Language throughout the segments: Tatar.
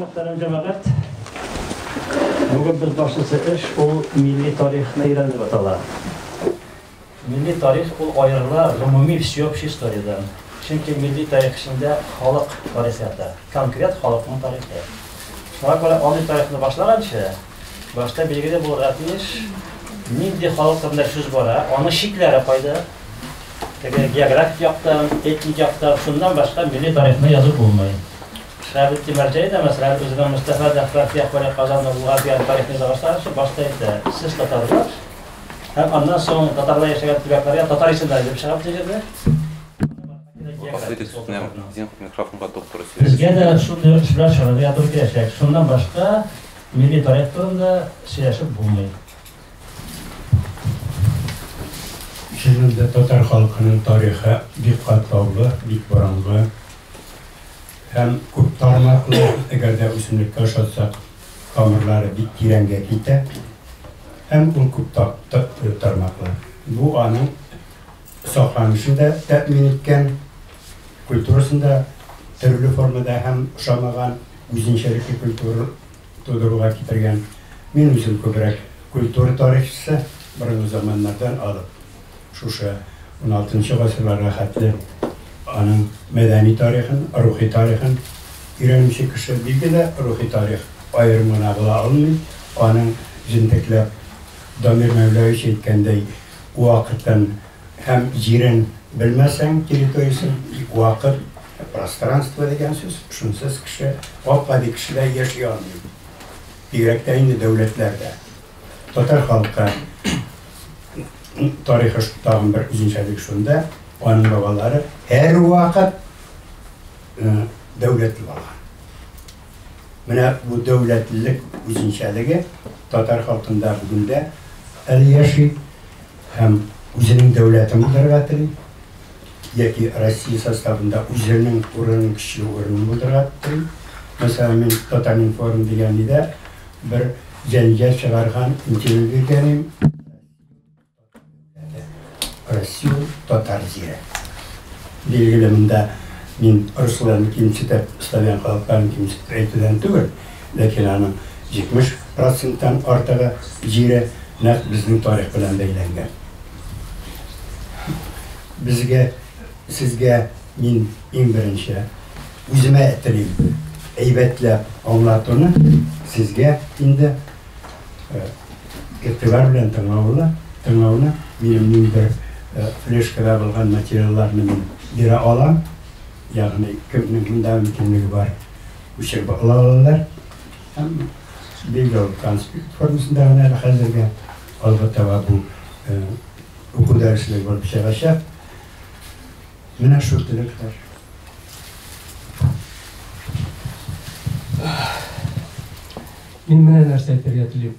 Мөхтәрәм җәмәгать, бүген без башлысы эш ул милли тарихны өйрәнеп атала. Милли тарих ул аерыла гомуми всеобщий историядән. Чөнки милли тарих эчендә халык тарихы ята, конкрет халыкның тарихы. Шуңа күрә андый тарихны башлаганчы, башта билгеле булырга тиеш, нинди халык турында сүз бара, аның чикләре кайда, Әгәр географик яктан, этник яктан, шуннан башка милли тарихны язып булмый. Шәбет Тимерҗай да, мәсәлән, үзенең Мостафа Дәфрак Яхвәле Казанны булган дигән тарихны яза башлаганчы башта әйтә, сез татарлар, һәм аннан соң татарлар яшәгән төбәкләргә татар исемнәре дип чыгып дигән дә. Безгә дә шундый эш белән шөгыльләнергә туры киләчәк. Шуннан башка милли тарих турында сөйләшеп булмый. Чыннан да татар халкының тарихы бик катлаулы, бик борынгы һәм күп тармаклы, әгәр дә үсемлеккә ошатсак, тамырлары бик тирәнгә китә һәм ул күп тармаклы. Бу аның сакланышын да тәэмин иткән, культурасын да төрле формада һәм ошамаган үзенчәлекле культура, тудыруга китергән. Мин үзем күбрәк культура тарихчысы, борынгы заманнардан алып, шушы уналтынчы гасырларга хәтле аның мәдәни тарихын, рухи тарихын өйрәнүче кеше. Билгеле, рухи тарих аерым гына була алмый, аның җентекләп, Дамир Мәүләвич әйткәндәй, вакытын Һәм җирен белмәсәң, территориясен, вакыт, пространство дигән сүз, шунсыз кеше, гап-гади кешеләр яши алмый. Бигрәк тә инде дәүләтләрдә. Татар халкы тарихы тагын бер үзенчәлеге шунда, аның бабалары һәрвакыт дәүләтле булган. Менә бу дәүләтлелек үзенчәлеге татар халкында бүгендә әле яши. Һәм үзенең дәүләтен булдырырга тели, яки Россия составында үзенең урынын, көчле урынын булдырырга тели. Мәсәлән, мин Татаринформ дигән нидә бер җәнҗал чыгарган интервью биргән идем. Расул Татар зирә. Билгеле, монда мин русларны кимсетеп, славян халыкларын кимсетеп әйтүдән түгел, Ләкин аның 70 проценттан артыгы җире нәкъ безнең тарих белән бәйләнгән. Безгә, сезгә мин иң беренче үземә телим әйбәтләп аңлатуны, сезгә инде игътибар белән тыңлауны, тыңлауны, минем ниндидер флешкада булган материалларны мин бирә алам, ягъни кемнең монда мөмкинлеге бар. Күчереп ала алалар. Һәм видео конспект формасында гына әле хәзергә алга таба бу уку дәреслеге булып чыгачак. Менә шул теләкләр. Мин менә нәрсә әйтергә телим.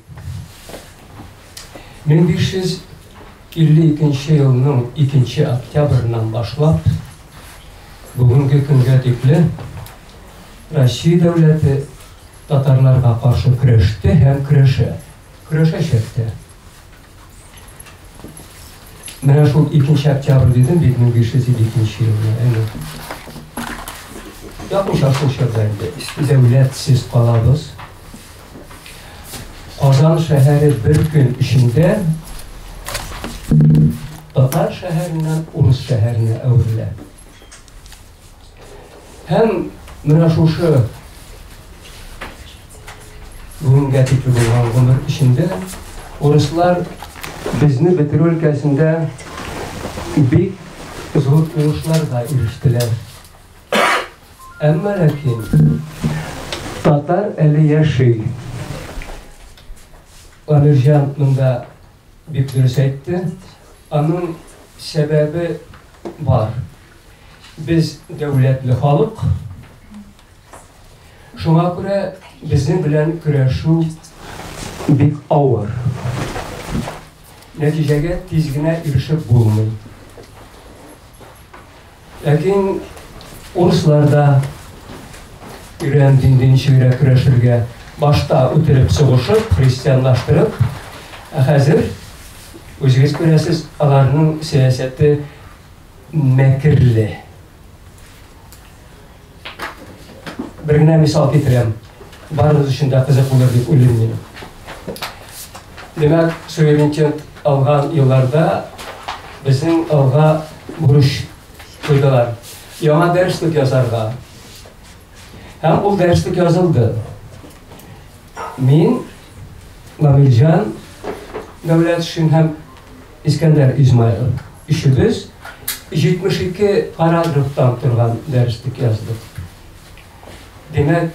1552 елның 2 октябреннән башлап бүгенге көнгә тикле Россия дәүләте татарларга каршы көрәште һәм көрәшә, көрәшәчәк тә. Менә шул 2 октябрь дидем бит 1552 елны, әнә. Якынча шул чорда инде, иске дәүләтсез калабыз. Казан шәһәре бер көн эчендә татар шәһәреннән урыс шәһәренә әверелә. Һәм менә шушы бүгенгә тикле булган гомер эчендә урыслар безне бетерү өлкәсендә бик зур уңышларга ирештеләр. Әмма ләкин татар әле яши. Амирҗан монда бик дөрес әйтте. Аның сәбәбе бар. Без дәүләтле халык. Шуңа күрә безнең белән көрәшү бик авыр. Нәтиҗәгә тиз генә ирешеп булмый. Ләкин урыслар да өйрән диндин чигрә көрәшергә башта үтереп сугышып, христианлаштырып, ә хәзер үзегез күрәсез, аларның сәясәте мәкерле. Бер генә мисал китерәм. Барыгыз өчен дә кызык булыр дип уйлыйм мин. Димәк, суверенитет алган елларда безнең алга бурыч куйдылар. Яңа дәреслек язарга. Һәм ул дәреслек язылды. Мин Мамилҗан дәүләт өчен һәм Искәндәр Измайлов, Өчебез 72 параграфтан торган дәреслек яздык. Димәк,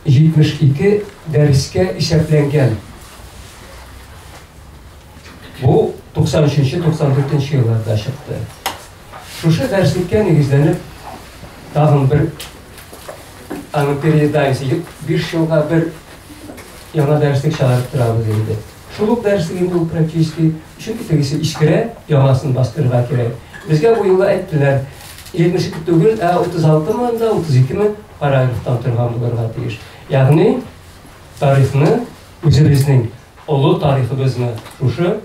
72 дәрескә исәпләнгән. Бу 93-94 елларда чыкты. Шушы дәреслеккә нигезләнеп, тагын бер аны переизданиесе 5 елга бер яңа дәреслек чыгарып торабыз инде. Шул ук дәресеге ул практически, чөнки тегесе искерә, яңасын бастырырга кирәк. Безгә бу юлы әйттеләр, 72 түгел, ә 36 мы да, 32 мы параграфтан торган булырга тиеш. Ягъни тарихны, үзебезнең олы тарихыбызны шушы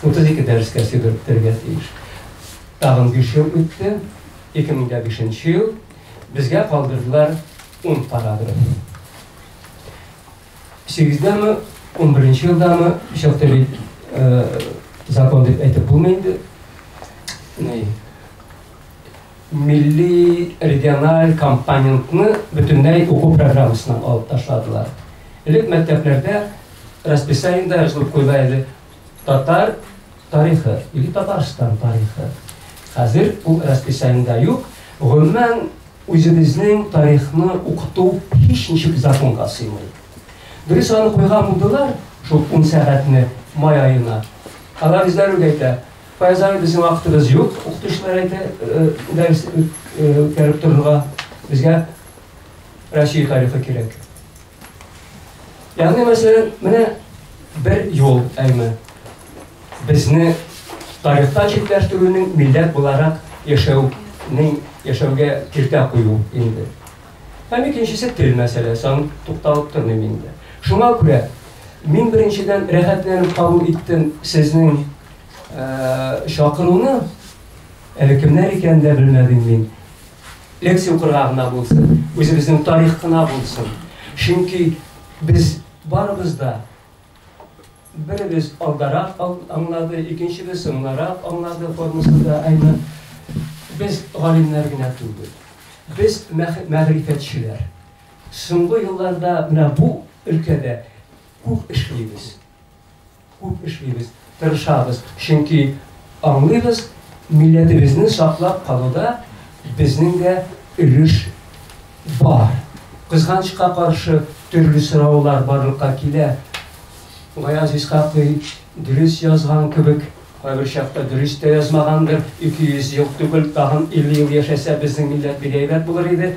32 дәрескә сыйдырып бетерергә тиеш. Тагын биш ел үтте, 2005 нче ел, безгә калдырдылар ун параграф. Сигездәме, унберенче елдамы, чакта бит закон дип әйтеп булмый инде. Ни? Милли региональ компонентны бөтенләй уку программасыннан алып ташладылар. Элек мәктәпләрдә расписаниедә язылып куела иде, Татар тарихы или Татарстан тарихы. Хәзер ул расписаниедә юк. Гомумән, үзебезнең тарихны укыту һич ничек законга сыймый. Дөрес аны куйган булдылар, шул ун сәгатьне май аена. Алар үзләре үк әйтә, Фаяз абый, безнең вакытыбыз юк, укытучылар әйтә, э, дәрес э, э, үткәреп торырга. Безгә Россия тарихы кирәк. Ягъни, мәсәлән, менә бер юл әйме. Безне тарихта читләштерүнең милләт буларак яшәүнең яшәүгә киртә кую инде. Һәм икенчесе тел мәсьәләсе, аны тукталып тормыйм инде. Шуңа күрә мин беренчедән рәхәтләнеп кабул иттем сезнең чакыруны, әле кемнәр икәнен дә белмәдем мин. лекция укырга гына булсын, үзебезнең тарих кына булсын. Чөнки без барыбыз да беребез алдарак аңлады, икенчебез соңларак аңлады формасында әйме. Без галимнәр генә түгел. Без мәгърифәтчеләр. Соңгы елларда менә бу өлкәдә күп эшлибез. Күп эшлибез, тырышабыз, чөнки аңлыйбыз, милләтебезне саклап калуда безнең дә өлеш бар. Кызганычка каршы, төрле сораулар барлыкка килә. Гаяз Исхакый дөрес язган кебек, кайбер чакта дөрес тә язмагандыр, 200 ел түгел, тагын 50 ел яшәсә, безнең милләт бик әйбәт булыр иде.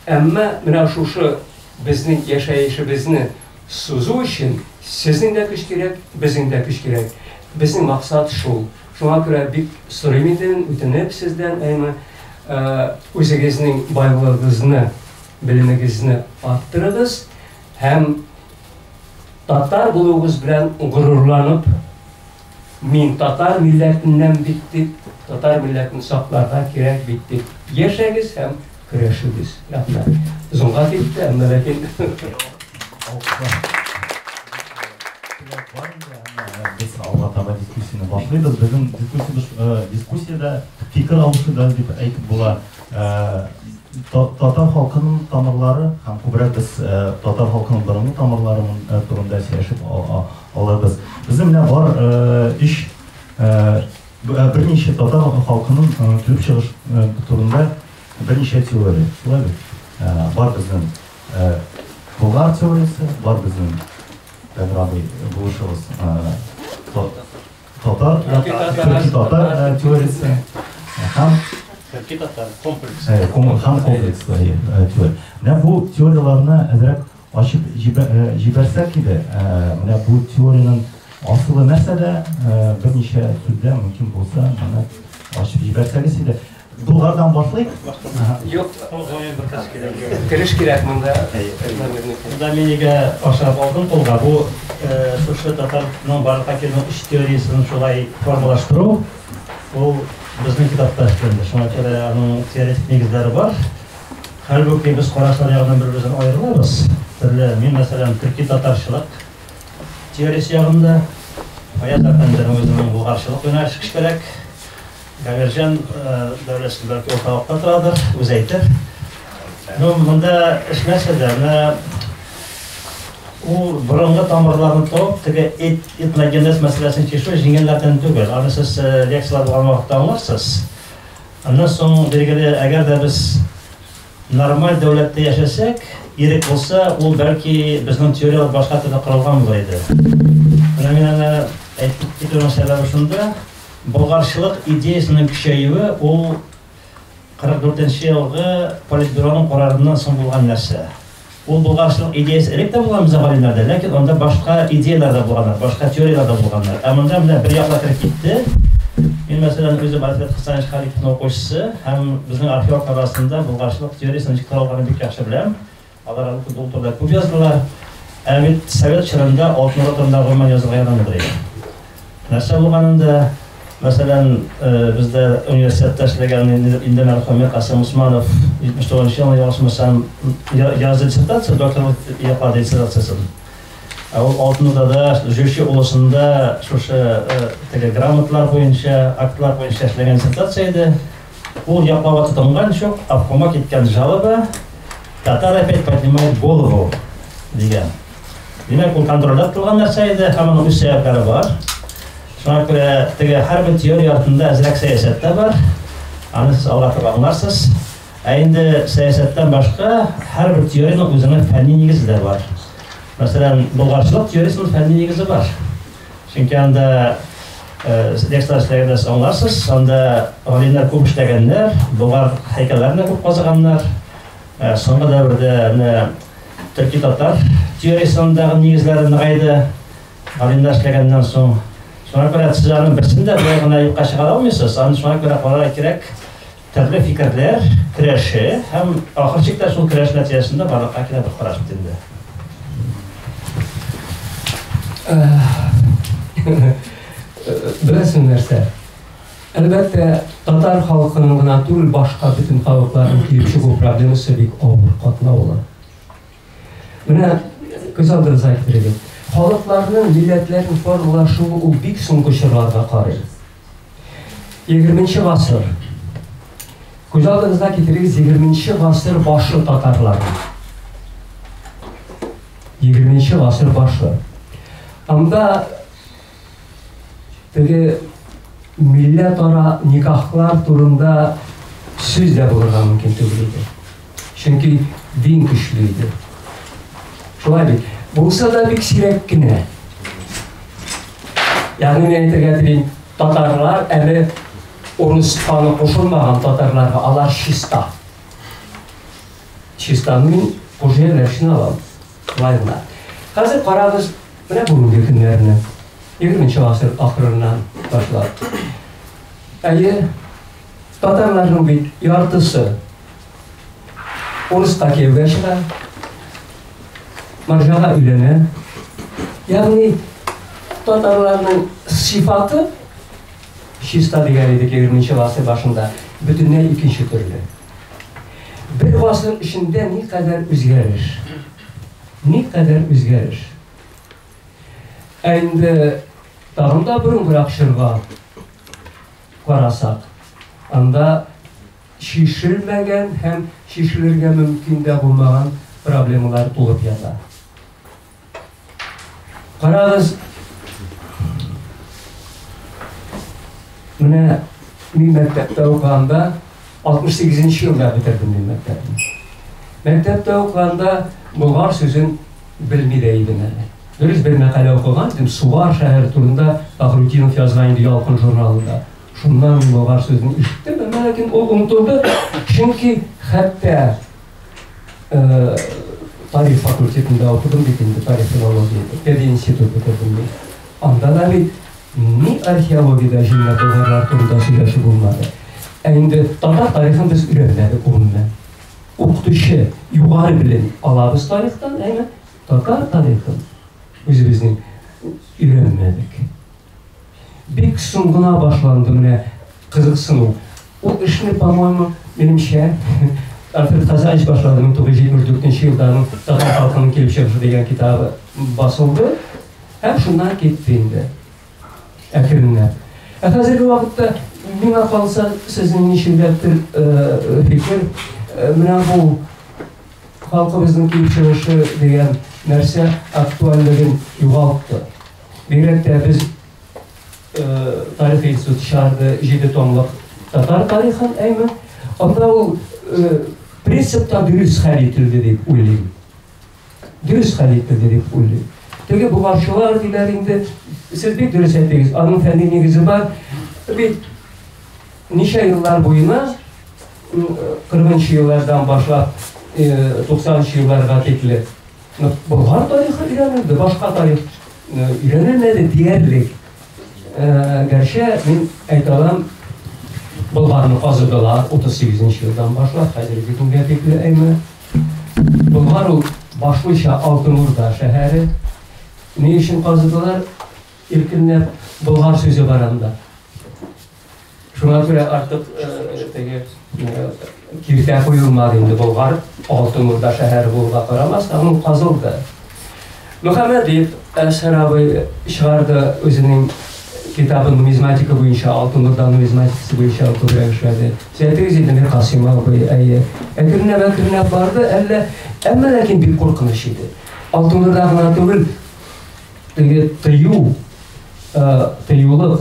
Әмма менә шушы безнең яшәешебезне сузу өчен сезнең дә көч кирәк, безнең дә көч кирәк. Безнең максат шул. Шуңа күрә бик сорыйм инде мин үтенеп сездән, әйме, үзегезнең байлыгыгызны, белемегезне арттырыгыз һәм татар булуыгыз белән горурланып, Мин татар милләтеннән бит дип, татар милләтен сакларга кирәк бит дип яшәгез һәм көрәшегез. Рәхмәт. Озынга китте, әмма ләкин Без алга таба дискуссияне башлыйбыз. Безнең дискуссиябез дискуссиядә фикер алышуда дип әйтеп була. Татар халкының тамырлары һәм күбрәк без татар халкының борынгы тамырлары турында сөйләшеп Алабыз. Безнең менә бар өч берничә татар халкының килеп чыгыш турында берничә теория. Шулай бит? Бар безнең Болгар теориясе, бар безнең Тәграби булышыбыз татар, төрки татар теориясе һәм төрки татар комплекс. Һәм комплекс теория. Менә бу теорияләрне әзрәк Ачып җибәрсәк иде, менә бу теориянең асылы нәрсәдә, берничә сүздә мөмкин булса, моны ачып җибәрсәгез иде. Болгардан башлыйк. Юк, озын бер кыз кирәк. Кереш кирәк монда. Монда мин нигә ашап алдым кулга, бу шушы татарның барлык әкиятенең өч теориясен шулай формалаштыру, ул безнең китапта эшләнде. Шуңа күрә аның теоретик нигезләре бар. Хәлбуки без карашлар ягыннан бер-беребездән аерылабыз. Төрле, мин, мәсәлән, төрки татарчылык теориясе ягында, Фаяз әфәнденең үзенең булгарчылык юнәлеше кечкәрәк. Гамирҗан Дәүләтшин бәлки урталыкта торадыр, үзе әйтер. Ну, монда эш нәрсәдә? Менә ул борынгы тамырларны табып, теге эт, этногенез мәсьәләсен чишү җиңелләрдән түгел. Аны сез лекцияләр булган вакытта аңларсыз. Аннан соң, билгеле, әгәр дә без нормаль дәүләттә яшәсәк, ирек булса, ул, бәлки, безнең теорияләр башка төрле корылган булыр иде. Менә мин аны әйтеп китүнең сәбәбе шунда, болгарчылык идеясенең көчәюе ул 44 нче елгы политбюроның карарыннан соң булган нәрсә. Ул булгачның идеясе элек тә булган безнең галимнәрдә, ләкин анда башка идеяләр дә булганнар, башка теорияләр дә булганнар. Ә монда менә бер яклар кереп китте. Мин мәсәлән үзем Альфред Хасанович Халиковның укучысы һәм безнең археолог арасында булгачлык теориясенең ничек таралганын бик яхшы беләм. Алар әлбәттә бу турыда күп яздылар. Ә бит совет чорында алтын ротамда гомумән язырга ярамыйдыр иде. Нәрсә булганын да, мәсәлән, бездә университетта эшләгән инде мәрхүме Касыйм Усманов 79 нчы елны, ялгышмасам, язды диссертация, докторлык яклады диссертациясен. Ә ул Алтын Урдада, Җүче олысында шушы теге грамотлар буенча, актлар буенча эшләгән диссертация иде. Ул яклауга тотынган чук обкома киткән жалоба Татар опять поднимает голову дигән. Димәк, ул контрольдә тотылган нәрсә иде, һәм аның үз сәбәпләре бар. Шуңа күрә теге һәрбер теория артында әзрәк сәясәттә бар. Аны сез алга таба аңларсыз. Ә инде сәясәттән башка һәрбер теориянең үзенең фәнни нигезе дә бар. Мәсәлән, болгарчылык теориясенең фәнни нигезе бар. Чөнки анда лекцияләр эшләгәндә аңларсыз, анда галимнәр күп эшләгәннәр, болар һәйкәлләрне күп казыганнар. Соңгы дәвердә менә төрки татар теориясендәге нигезләре ныгайды. Галимнәр эшләгәннән соң, шуңа күрә сез аның берсен дә болай гына юкка чыгара алмыйсыз. Аны шуңа күрә карарга кирәк. Төрле фикерләр көрәше һәм ахыр чиктә шул көрәш нәтиҗәсендә барлыкка килә бер караш бит инде. Беләсең нәрсә? Әлбәттә, татар халкының гына түгел, башка бөтен халыкларның килеп чыгу проблемасы бик авыр, катлаулы. Менә күз алдырызга китерегез. Халыкларның, милләтләрнең формалар шул ул бик соңгы чорларга карый. 20-нче гасыр. Күз алдырызга китерегез 20-нче гасыр башы татарлар. 20-нче гасыр башы. Анда Теге милләтара никахлар турында сүз дә булырга мөмкин түгел иде. Чөнки дин көчле иде. Шулай бит. Булса да бик сирәк кенә. Ягъни мин әйтергә телим, татарлар әле урыс каны кушылмаган татарларга алар чиста. Чистаны кужеләшне алам. Лайнар. Хәзер карагыз, Менә бүгенге көннәрне, егерменче гасыр ахырыннан башлап. Әйе, татарларның бит яртысы урыска кияүгә чыга, маржага өйләнә. Ягъни татарларның сыйфаты чиста дигән идек егерменче гасыр башында бөтенләй икенче төрле. Бер гасыр эчендә никадәр үзгәреш. Никадәр үзгәреш! Ә инде тагын да борынгырак чорга карасак, анда чишелмәгән һәм чишелергә мөмкин дә булмаган проблемалар тулып ята. Карагыз, менә мин мәктәптә укыганда 68 нче елда бетердем мин мәктәпне. Мәктәптә укыганда болгар сүзен белми дә идем әле. Дөрес бер мәкалә укыган идем, Сугар шәһәр турында Фахрутдинов язган иде Ялкын журналында. Шуннан мин болгар сүзен ишеттем, әмма ләкин ул онытылды, чөнки хәтта Тарих факультетында укыдым бит инде, тарих-филология, пединститут бетердем мин. Анда да бит ни археологиядә җиңелә булганнар турында сөйләшү булмады. Ә инде татар тарихын без өйрәнмәдек гомумән. Укытучы югары белем алабыз тарихтан, әмма татар тарихын үзебезнең өйрәнмәдек. Бик соң гына башланды менә кызыксыну. Ул эшне, по-моему, минемчә, Альфред Хазаевич башлады, 1974 елда аның Татар халкының килеп чыгышы дигән китабы басылды, һәм шуннан китте инде. Әкренләп. Ә хәзерге вакытта миңа калса, сезнең ничегдәдер фикер, менә бу халкыбызның килеп чыгышы дигән нәрсә актуальлеген югалтты. Бигрәк тә без тарих институты чыгарды җиде томлык татар тарихын, әйме. Анда ул принципта дөрес хәл ителде дип уйлыйм. Дөрес хәл ителде дип уйлыйм. Теге бугачылар диләр инде, сез бик дөрес әйтегез, аның фәнни нигезе бар. Бит ничә еллар буена 40 еллардан башлап 90 елларга тикле Болгар тарихы өйрәнелде, башка тарих өйрәнелмәде диярлек. Гәрчә мин әйтә алам, Болгарны казыдылар 38 елдан башлап хәзерге көнгә тикле әйме. Болгар ул башлыча Алтын Урда шәһәре. Ни өчен казыдылар? Иркенләп Болгар сүзе бар анда. Шуңа күрә артык теге киртә куелмады инде Болгар алтын урда шәһәре булуга карамастан ул казылды. Мөхәммәдиев Әшһәр абый чыгарды үзенең китабын нумизматика буенча, алтын урда нумизматикасы буенча күбрәк эшләде. Сәйтегез инде мир Касыйм абый, әйе. Әкренләп әкренләп барды, әллә әмма ләкин бик куркыныч иде. Алтын урда гына түгел, теге тыю, тыюлык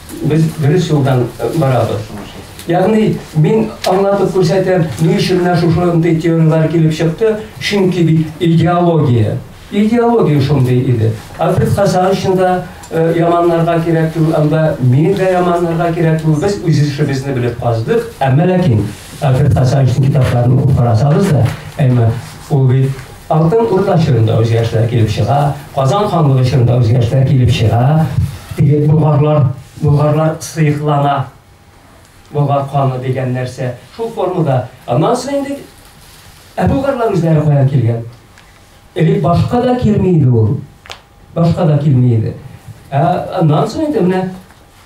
Без дөрес юлдан барабыз. Ягъни, мин аңлатып күрсәтәм, ни өчен менә шушындый теорияләр килеп чыкты, чөнки бит идеология. Идеология шундый иде. Альфред Хасан өчен дә яманнарга кирәк түгел, анда мин дә яманнарга кирәк түгел. Без үз эшебезне белеп каздык. Әмма ләкин Альфред Хасан өчен китапларны укып карасагыз да, әмма ул бит Алтын Урда чорында үзгәрешләр килеп чыга, Казан ханлыгы чорында үзгәрешләр килеп чыга, теге болгарлар, болгарлар сыеклана, болгар каны дигән нәрсә, шул формада. Аннан соң инде ә болгарлар үзләре каян килгән? Элек башка да килми иде ул, башка да килми иде. Ә аннан соң инде менә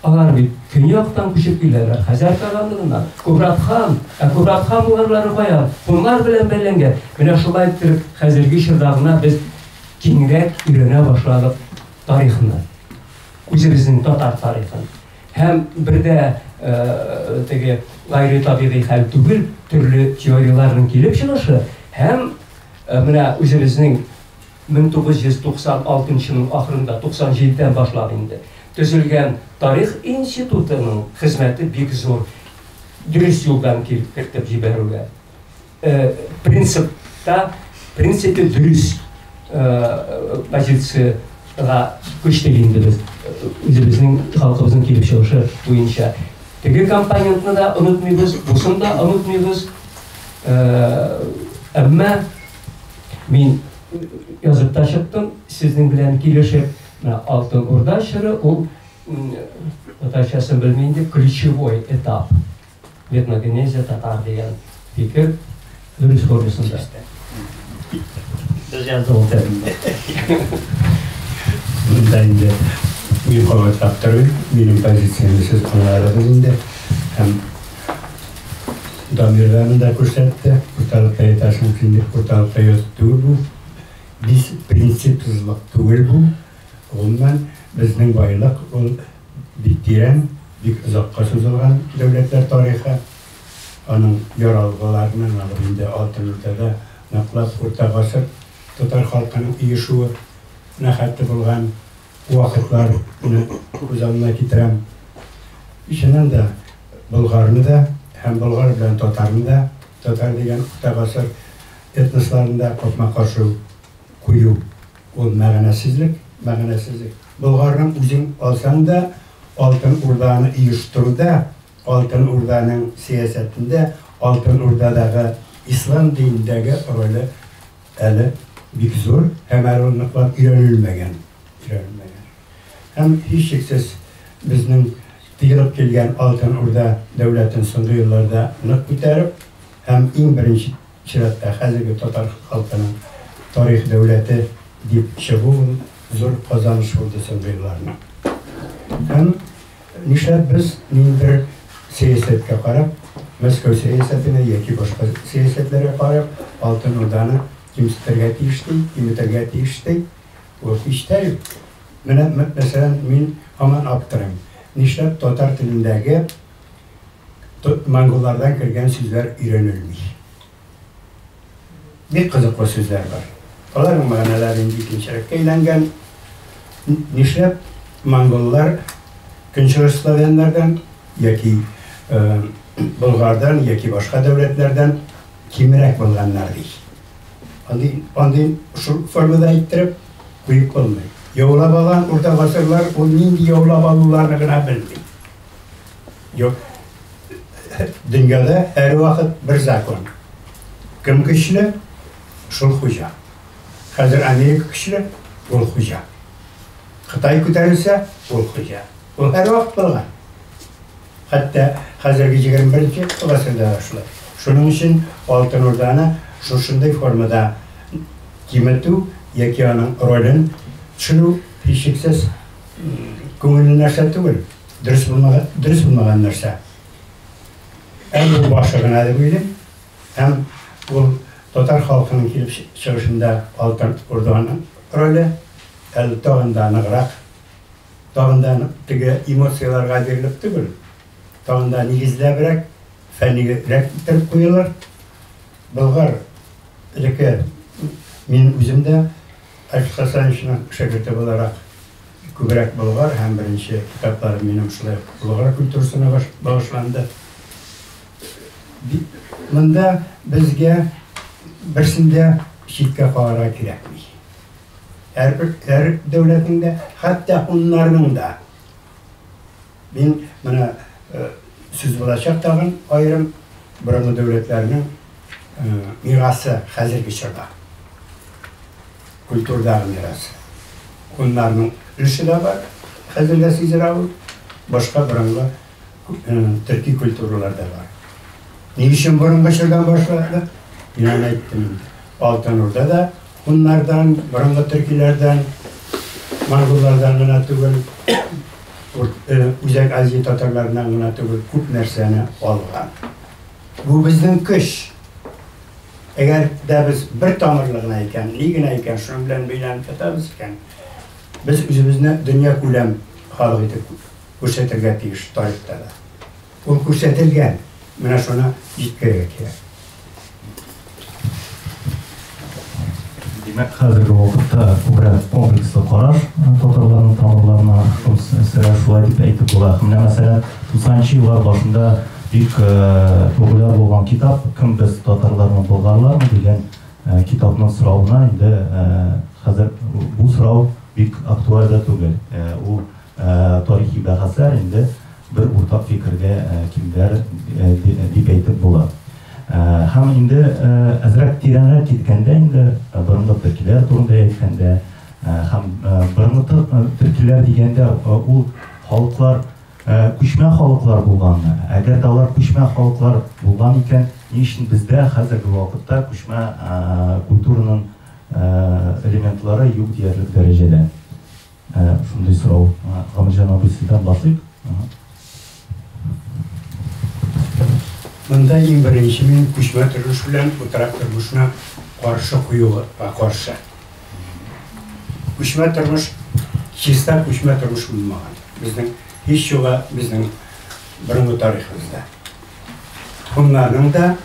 Алар бит көньяктан күчеп киләләр, Хәзәр тарафыннан. Кубрат хан, ә Кубрат хан булырлары каян? Һуннар белән бәйләнгән. Менә шулай иттереп, хәзерге чорда гына без киңрәк өйрәнә башладык тарихны. Үзебезнең татар тарихын. Һәм бер дә теге гайре табигый хәл түгел, төрле теорияләрнең килеп чыгышы һәм менә үзебезнең Мең тугыз йөз туксан алтынчының ахырында, туксан җидедән башлап инде, төзелгән Тарих институтының хезмәте бик зур, дөрес юлдан кертеп җибәрүгә. Принципта, в принципе, дөрес позицияга күчтек инде без, үзебезнең халкыбызның килеп чыгышы буенча. Теге компонентны да онытмыйбыз, бусын да онытмыйбыз. Әмма Мин язып та чыктым, сезнең белән килешеп, менә Алтын Урда чоры ул татарчасын белмим дип ключевой этап. Этногенезия татар дигән фикер дөрес формасында. Без язды ул тәрбине. Бunda инде мин кабатлап торыйм, минем позициямне сез аңладыгыз инде. Һәм Дамирларны да күрсәтте, курталып та ятасы мөмкин дип курталып та яту түгел бу. Бис принципсызлык түгел бу. Гомумән, безнең байлык ул бик тирән, бик озакка сузылган дәүләтләр тарихы. Аның яралгыларны ныгып инде Алтын Урдада ныклап урта гасыр татар халкының оешуы на хәтле булган вакытлар минем күз алдына китерәм. Чыннан да, Болгарны да һәм Болгар белән татарны да, татар дигән урта гасыр этносларын да капма-каршы кую, ул мәгънәсезлек, мәгънәсезлек. Болгарның үзен алсаң да, Алтын Урданы оештыруда, Алтын Урданың сәясәтендә, Алтын Урдадагы ислам динендәге роле, Әле бик зур һәм әле ул ныклап өйрәнелмәгән, өйрәнелмәгән. Һәм, һичшиксез, безнең тыелып килгән Алтын Урда дәүләтен соңгы елларда нык күтәреп һәм иң беренче чиратта хәзерге татар халкының тарих дәүләте дип чыгу ул зур казаныш булды соңгы елларның. Һәм. Нишләп без ниндидер сәясәткә карап, Мәскәү сәясәтенә яки башка сәясәтләргә карап, Алтын Урданы кимсетергә тиеш ди, киметергә тиеш ди? Ул һич тә юк. Менә, мәсәлән, мин һаман аптырыйм, нишләп татар телендәге монголлардан кергән сүзләр өйрәнелми? Бик кызыклы сүзләр бар. Аларның мәгънәләре инде икенчерәккә әйләнгән. Нишләп монголлар көнчыгыш славяннардан яки болгардан яки башка дәүләтләрдән кимерәк булганнар ди? Андый, андый шул формада әйттереп куеп булмый. Яулап алган урта гасырлар ул нинди яулап алуларны гына белми. Юк. Дөньяда һәрвакыт бер закон. Кем көчле, шул хуҗа. Хәзер Америка көчле, ул хуҗа. Кытай күтәрелсә, ул хуҗа. Ул һәрвакыт булган. Хәтта хәзерге 21 гасырда да шулай. Шуның өчен Алтын Урданы шушындый формада киметү яки аның ролен төшерү һичшиксез күңелле нәрсә түгел. Дөрес булмаган, дөрес булмаган нәрсә. Әм бу башы гына дип уйлыйм. Әм ул татар халкының килеп чыгышында алтын урданың роле, әл тагын да ныграк, тагын да теге эмоцияләргә бирелеп түгел, тагын да нигезләбрәк, фәннигрәк итеп куелыр. Болгар элеке мин үзем дә Александр Александровичның шәкерте буларак Күбрәк Болгар һәм беренче китапларым минем шулай ук Болгар культурасына багышланды. Монда безгә берсен дә читкә калырга кирәкми. Һәрбер һәр дәүләтнең дә, хәтта уннарның да. Мин менә сүз булачак тагын аерым борынгы дәүләтләрнең мирасы хәзерге чорда. Культурдагы мирас. Гуннарның өлеше дә бар, хәзер дә сизелә ул. Башка борынгы төрки культуралар да бар. Ни өчен борынгы чордан башладык? Мин аны әйттем инде. Алтын Урда да гуннардан, борынгы төркиләрдән, монголлардан гына түгел, Үзәк Азия татарларыннан гына түгел, күп нәрсәне алган. Бу безнең көч. Әгәр дә без бер тамырлы гына икән, ни генә икән, шуның белән бәйләнеп ятабыз икән, без үзебезне дөнья күләм халык итеп күрсәтергә тиеш тарихта да. Ул күрсәтелгән, менә шуны җиткерергә кирәк. Димәк, хәзерге вакытта күбрәк комплекслы караш татарларның тамырларына хос сыра шулай дип әйтеп була. Менә мәсәлән, 90 еллар башында бик популяр булган китап Кем без татарлармы болгарлармы дигән китапның соравына инде хәзер бу сорау бик актуаль да түгел. Ул Тарихи бәхәсләр инде бер уртак фикергә килделәр дип әйтеп була. Һәм инде әзрәк тирәнрәк киткәндә инде, борынгы төркиләр турында әйткәндә, һәм борынгы төркиләр дигәндә ул халыклар күчмә халыклар булганмы? Әгәр дә алар күчмә халыклар булган икән, ни өчен бездә хәзерге вакытта күчмә культураның элементлары юк диярлек дәрәҗәдә? Ә шундый сорау. Камилҗан абый сездән башлыйк. Монда иң беренче мин күчмә тормыш белән утрак тормышны каршы куюга каршы. Күчмә тормыш чиста күчмә тормыш булмаган. Безнең һич юга безнең борынгы тарихыбызда. Хуннарның да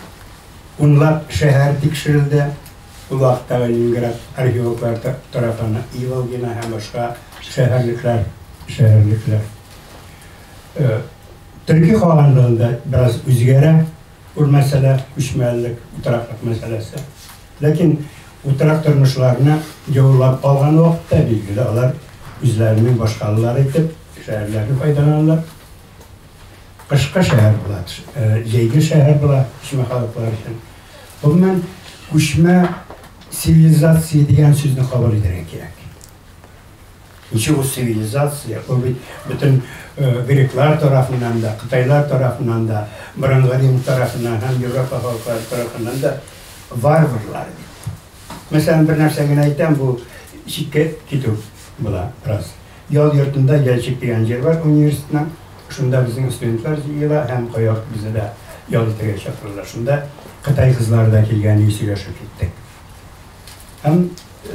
унлап шәһәр тикшерелде. Бу вакыттагы Ленинград археологлары тарафына Иволгино һәм башка шәһәрлекләр, шәһәрлекләр. Төрки калганлыгында бераз үзгәрә ул мәсьәлә, күчмәлелек, утыраклык мәсьәләсе. Ләкин утырак тормышларына яулап калган вакытта, билгеле, алар үзләренең башкалалары итеп шәһәрләрне файдаланалар. Кышкы шәһәр була, җәйге шәһәр була күчмә халыклар өчен. Гомумән, күчмә цивилизация дигән сүзне кабул итәргә кирәк. Ничек ул цивилизация? Ул бит бөтен греклар тарафыннан да, кытайлар тарафыннан да, борынгы рим тарафыннан һәм Европа халыклары тарафыннан да варварлар бит. Мәсәлән, бер нәрсә генә әйтәм, бу читкә китү була раз. Ял йортында Ялчик дигән җир бар университетның. Шунда безнең студентлар җыела һәм кая безне дә ял итәргә чакыралар. Шунда кытай кызлары да килгән иде, сөйләшеп киттек. Һәм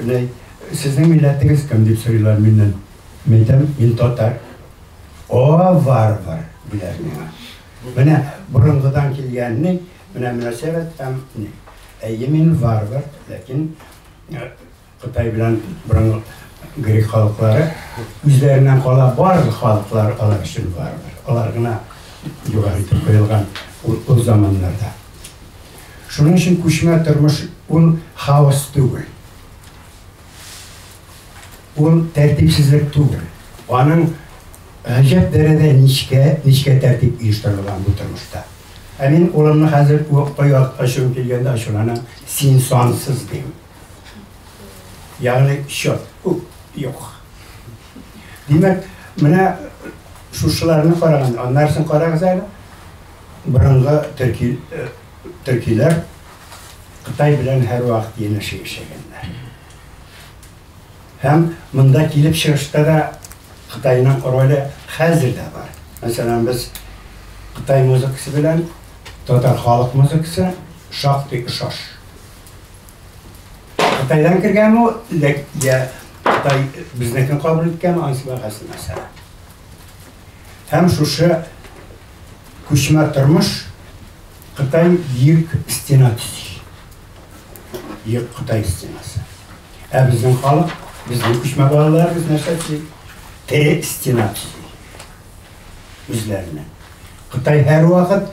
нәй, сезнең милләтегез кем дип сорыйлар миннән. Мин әйтәм, мин татар. О, варвар, диләр миңа. Менә борынгыдан килгәнне Менә мөнәсәбәт һәм ни. Әйе, мин варвар, ләкин Кытай белән борынгы грек халыклары үзләреннән кала барлык халыклар алар өчен варвар. Алар гына югары итеп куелган ул заманнарда. Шуның өчен күчмә тормыш ул хаос түгел. Ул тәртипсезлек түгел. Аның гаҗәп дәрәҗәдә нечкә, нечкә тәртип оештырылган бу тормышта. Ә мин улымны хәзер куыкта яткачым килгәндә ачуланам, син сансыз дим. Ягъни счет күп юк. Димәк, менә шушыларны караганда, аннарсын карагыз әле. Борынгы төрки э, төркиләр Кытай белән һәрвакыт янәшә яшәгәннәр. Һәм монда килеп чыгышта да Кытайның роле хәзер дә бар. Мәсәлән, без Кытай музыкасы белән татар халык музыкасы шактый ошаш. Кытайдан кергәнме ул, йә Кытай безнекен кабул иткәнме, анысы бәхәсле мәсьәлә. Һәм шушы күчмә тормыш Кытай бөек стена төзи. Юк, Кытай стенасы. Ә безнең халык, безнең күчмә балаларыбыз нәрсә төзи? Тере стена төзи. Үзләренә. Кытай һәрвакыт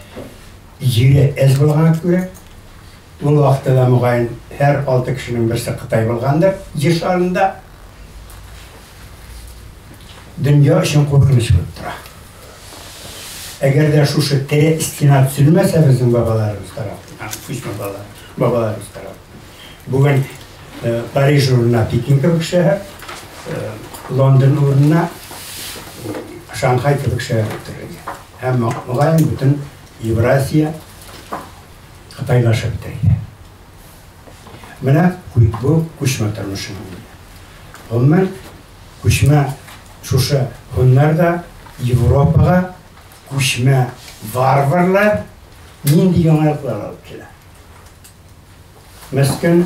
җире әз булган күрә, ул вакытта да мөгаен һәр алты кешенең берсе Кытай булгандыр җир шарында. Дөнья өчен куркыныч булып тора. Әгәр дә шушы тере стена төзелмәсә безнең бабаларыбыз тарафыннан, күчмә бабаларыбыз тарафыннан. Бүген э, Париж урынына Пекин кебек шәһәр, э, Лондон урынына Шанхай кебек шәһәр бетерелгән. Һәм мөгаен бөтен Евразия Кытайлашып бетерелгән. Менә бу күчмә тормышының. Гомумән Күчмә шушы һуннар да Европага күчмә варварлар нинди яңалыклар алып килә? Мескен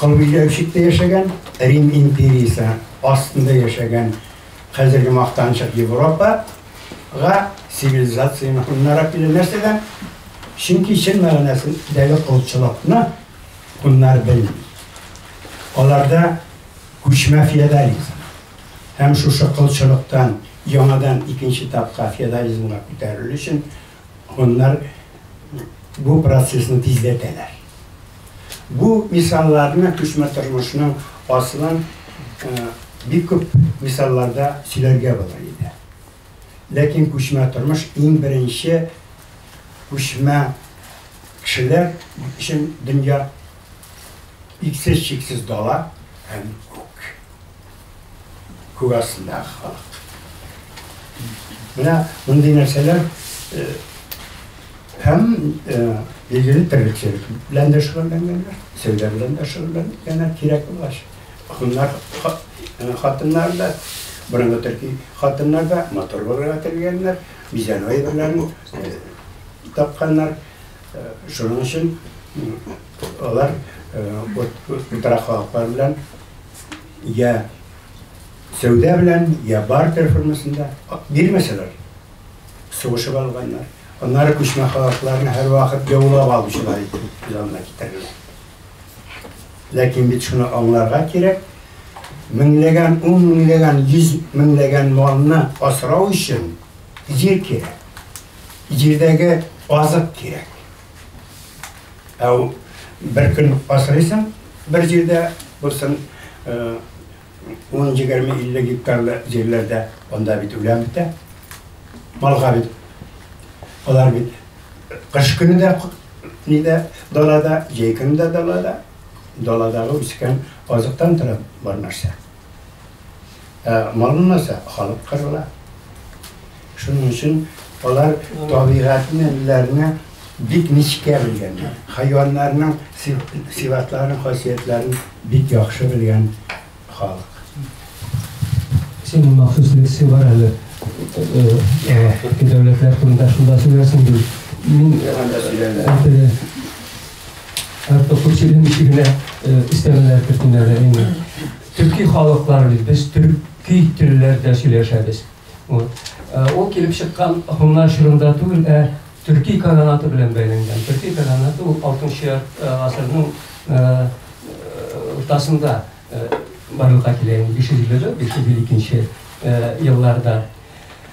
кылбиләүчектә яшәгән Рим империясе астында яшәгән хәзерге мактанчык Европага цивилизацияне һуннара килә нәрсәдән? Чөнки чын мәгънәсендәге колчылыкны һуннар белми. Аларда Күчмә феодализм һәм шушы колчылыктан яңадан икенче этапка феодализмга күтәрелү өчен гуннар бу процессны тизләтәләр. Бу мисалларны күчмә тормышның асылын бик күп мисалларда сөйләргә булыр иде. Ләкин күчмә тормыш иң беренче күчмә кешеләр өчен дөнья Иксез-чиксез дала һәм күк. Күк астындагы халык. Менә мондый нәрсәләр һәм билгеле терлекчелек белән дә шөгыльләнгәннәр, сәүдә белән дә шөгыльләнгәннәр, кирәк булгач. Хуннар хатыннары да, борынгы төрки хатыннар да матур булырга теләгәннәр, бизәнү әйберләрен тапканнар. Шуның өчен алар утыра халыклар белән я сәүдә белән, я бартер формасында бирмәсәләр, сугышып алганнар. Аннары күчмә халыкларны һәрвакыт яулап алучылар итеп без анда китерелә. Ләкин бит шуны аңларга кирәк, меңләгән, ун меңләгән, йөз меңләгән малны асрау өчен җир кирәк. Җирдәге азык кирәк. Ә бер көн асрыйсың, бер җирдә булсын 10-20-50 э, гектарлы җирләрдә, анда бит үлән бетә. Малга бит. Алар бит кыш көне дә нидә далада, җәй көне дә далада. Даладағы үскән азыктан тора бар нәрсә. Ә мал булмаса, халык кырыла. Шуның өчен алар табигатьне үзләренә бик нечкә белгәннәр. Хайваннарның сыйфатларын, хасиятләрен бик яхшы белгән халык. Син махсус лекция бар әле. Дәүләтләр турында шунда сөйләрсең бит. Мин Артык күчелем ишегенә өстәмәләр кертүләре инде. Төрки халыклар бит, без төрки телләрдә сөйләшәбез. Ул килеп чыккан һуннар чорында түгел, ә төрки каганаты белән бәйләнгән. Төрки каганаты ул 6-нчы гасырның уртасында барлыкка килә инде, 500-502 елларда.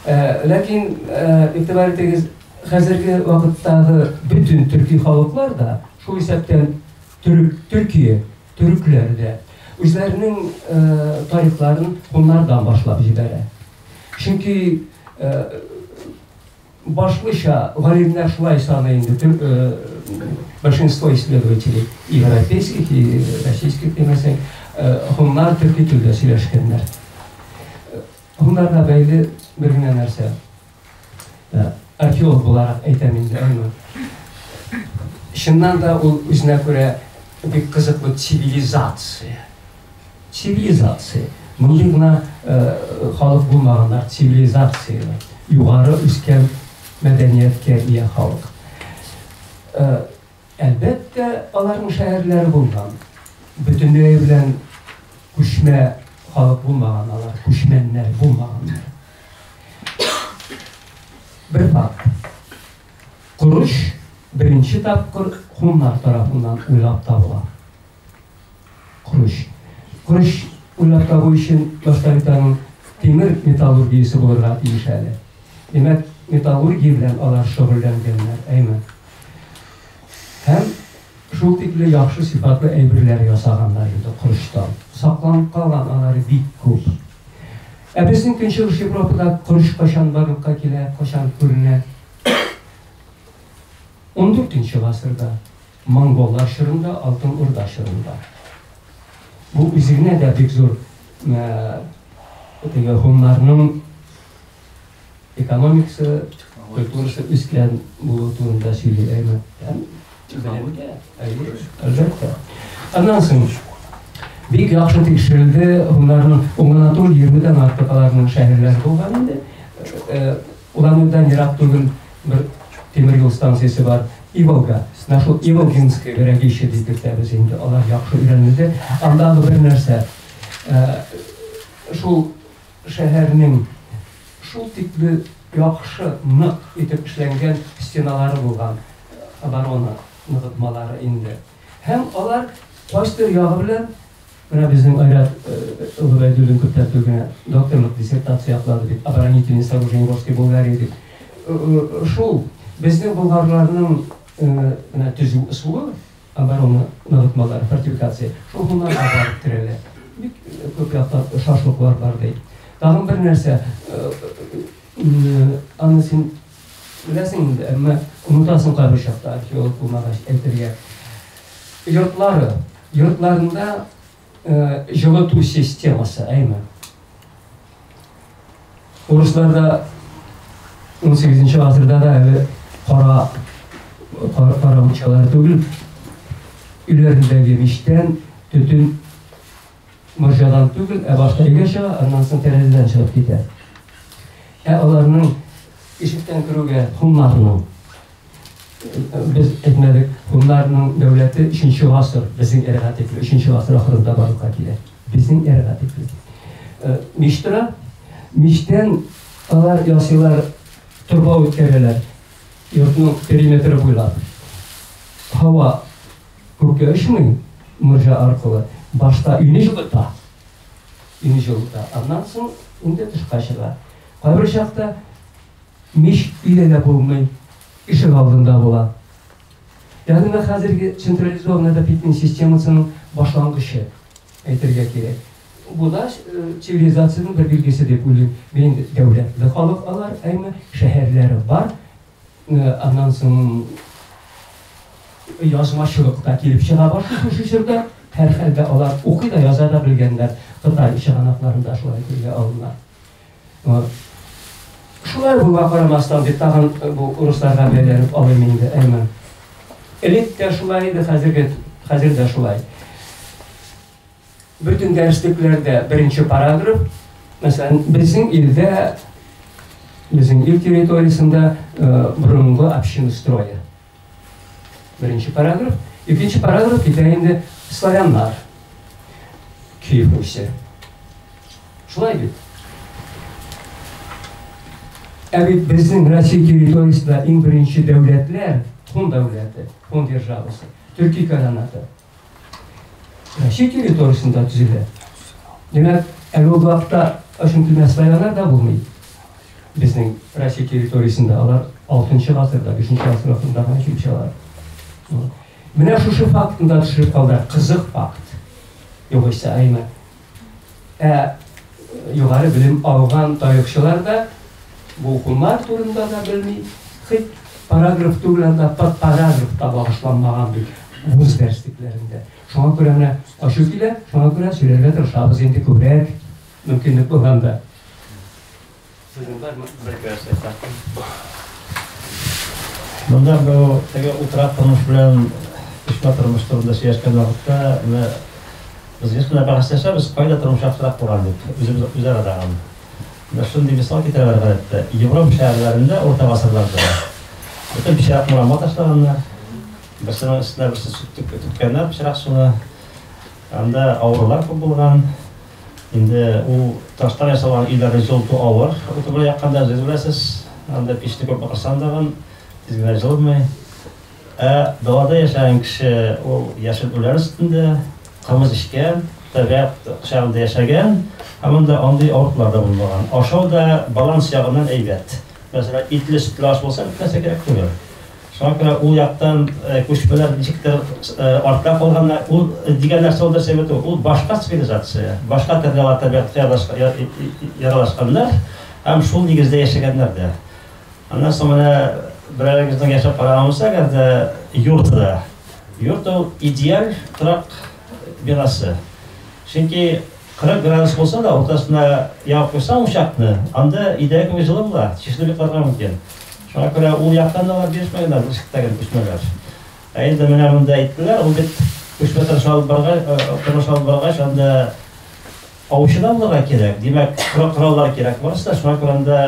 Ләкин игътибар итегез, Хәзерге вакыттагы бөтен төрки халыклар да, шул исәптән төрек, Төркия, төрекләр дә үзләренең э, тарихларын хуннардан башлап җибәрә. Чөнки э, башлыча галимнәр шулай саный инде төр, э, большинство исследователей европейских и российских демәсәң, э, хуннар төрки телдә сөйләшкәннәр. Хуннарга бәйле бер генә нәрсә, Археолог буларак әйтәм инде аны. Чыннан да ул үзенә күрә бик кызыклы цивилизация. Цивилизация. Мондый гына халык булмаганнар цивилизацияле, югары үскән мәдәнияткә ия халык. Әлбәттә, аларның шәһәрләре булган. Бөтенлеге белән күчмә халык булмаган алар, күчмәннәр булмаганнар. Бер факт. Корыч беренче тапкыр хуннар тарафыннан уйлап табыла. Круч. Круч уйлап табу өчен башта бит аның тимер металлургиясе булырга тиеш әле. Димәк, металлургия белән алар шөгыльләнгәннәр, әйме? Һәм шул тикле яхшы сыйфатлы әйберләр ясаганнар инде корычтан. Сакланып калган алары бик күп. Ә безнең көнчыгыш Европада корыч кайчан барлыкка килә, кайчан күренә? 14 нче гасырда Монголлар чорында, Алтын Урда чорында. Бу үзегнә дә бик зур теге һуннарның экономикасы, культурасы үскән булу турында сөйли әйме. Белемгә, әйе, әлбәттә. Аннан соң бик яхшы тикшерелде, һуннарның уңына тулы 20 дән артык аларның шәһәрләре булган инде. Урамыбыздан ерак түгел бер тимер юл станциясе бар, Иволга. Менә шул Иволгинское городище дип йөртәбез инде, алар яхшы өйрәнелде. Андагы бер нәрсә, шул шәһәрнең шул тикле яхшы, нык итеп эшләнгән стеналары булган, оборона ныгытмалары инде. Һәм алар кайсыдыр ягы белән Менә безнең Айрат Гобәйдуллин күптән түгел генә докторлык диссертация яклады бит, Оборонительные сооружения Волжской Булгарии дип. Шул безнең болгарларның менә төзү ысулы, оборона ныгытмалары, фортификация, шул моннарга барып керәләр. Бик күп яктан ошашлыклар бар, ди. Тагын бер нәрсә, аны син Беләсең инде, әмма онытасың кайбер чакта, археолог булмагач әйтергә. Йортлары, йортларында җылыту системасы, әйме. Урысларда 18 гасырда да әле кара кара мунчалар түгел, өйләрендәге мичтән төтен Морҗадан түгел, ә башта өйгә чыга, аннан соң тәрәзәдән чыгып китә. Ә аларның ишектән керүгә хуннарның без әйтмәдек, хуннарның дәүләте 3 гасыр, безнең эрага тикле 3 гасыр ахырында барлыкка килә. Безнең эрага тикле. Э, Миштра, миштән алар ясыйлар торба үткәрәләр. Йортның периметры буйлап. Һава Күккә очмый, морҗа аркылы. Башта өйне җылыта. Өйне җылыта. Аннан соң инде тышка чыга. Кайбер чакта мич өйдә дә булмый, ишек алдында була. Ягъни менә хәзерге централизованная отопительная системасының башлангычы, әйтергә кирәк. Бу да цивилизациянең бер билгесе дип уйлыйм мин инде. Дәүләтле халык алар, әйме, шәһәрләре бар. Аннан соң язмачылык та килеп чыга башлый шушы чорда. Һәрхәлдә алар укый да, яза да белгәннәр. Кытай чыганакларында шулай телгә алына. Шулай булуга карамастан, дип тагын бу урысларга бәйләнеп алыйм инде, Әймән. Элек тә шулай иде, хәзерге хәзер дә шулай. Бөтен дәреслекләрдә беренче параграф, мәсәлән, безнең илдә, безнең ил территориясендә борынгы община строя. Беренче параграф, икенче параграф китә инде славяннар, Киев Руси. Шулай бит. Ә бит безнең Россия территориясендә иң беренче дәүләтләр, хон дәүләте, хон державасы, төрки каранаты. Россия территориясендә төзелә. Димәк, әле ул вакытта ошентү мәсьәләләр дә булмый. Безнең Россия территориясендә алар 6 гасырда, 5 гасыр вакытында гына килеп чыгалар. Менә шушы фактында төшереп калды, кызык факт. Югыйсә, әйме? Ә югары белем алган тарихчылар да бу хуннар турында да белми, хит параграф түгел анда подпаразов та багышланмаган бит вуз дәрслекләрендә. Шуңа күрә менә ачу килә, шуңа күрә сөйләргә тырышабыз инде күбрәк мөмкинлек булганда. Монда бу теге утрак тормыш белән кичмә тормыш турында сөйләшкән вакытта, менә без еш кына бәхәсләшәбез, кайда тормыш яхшырак булган дип, үзебез үзара да аны. Менә шундый мисал китерәләр гадәттә. Европа шәһәрләрендә урта гасырларда бөтен пычрак мурама ташлаганнар. Берсенең өстенә берсе сүтеп көткәннәр пычрак суны. Анда авырулар күп булган. Инде ул таштан ясалган өйләрне җылыту авыр, уты белән якканда, үзегез беләсез, анда пичне күп акырсаң тагын тиз генә җылынмый. Ә далада яшәгән кеше ул яшел үлән өстендә, кымыз эчкән, табигать кочагында яшәгән, һәм анда андый авыртулар да булмаган. Ашау да баланс ягыннан әйбәт. Мәсәлән, итле-сөтле аш булса, бик нәрсә кирәк түгел. Шуңа күрә ул яктан күчмәләр ничектер артка калганнар. Ул дигән нәрсә ул нәрсә бит ул? Ул башка цивилизация, башка төрле алар табигатькә яралашканнар һәм шул нигездә яшәгәннәр дә. Аннан соң менә берәрегезнең яшәп караган булса, әгәр дә йортта, йорт ул идеаль торак бинасы. Чөнки 40 градус булса да, уртасына ягып куйсаң учакны, анда идәгә кебек җылы була, чишенеп йокларга мөмкин. Шуңа күрә ул яктан да алар бирешмәгәннәр, ышыкта гел күчмәләр. Ә инде менә монда әйттеләр, ул бит күчмә тырыш алып баргач, тырыш алып баргач, анда аучы да булырга кирәк. Димәк, кораллар кирәк барысы да. Шуңа күрә анда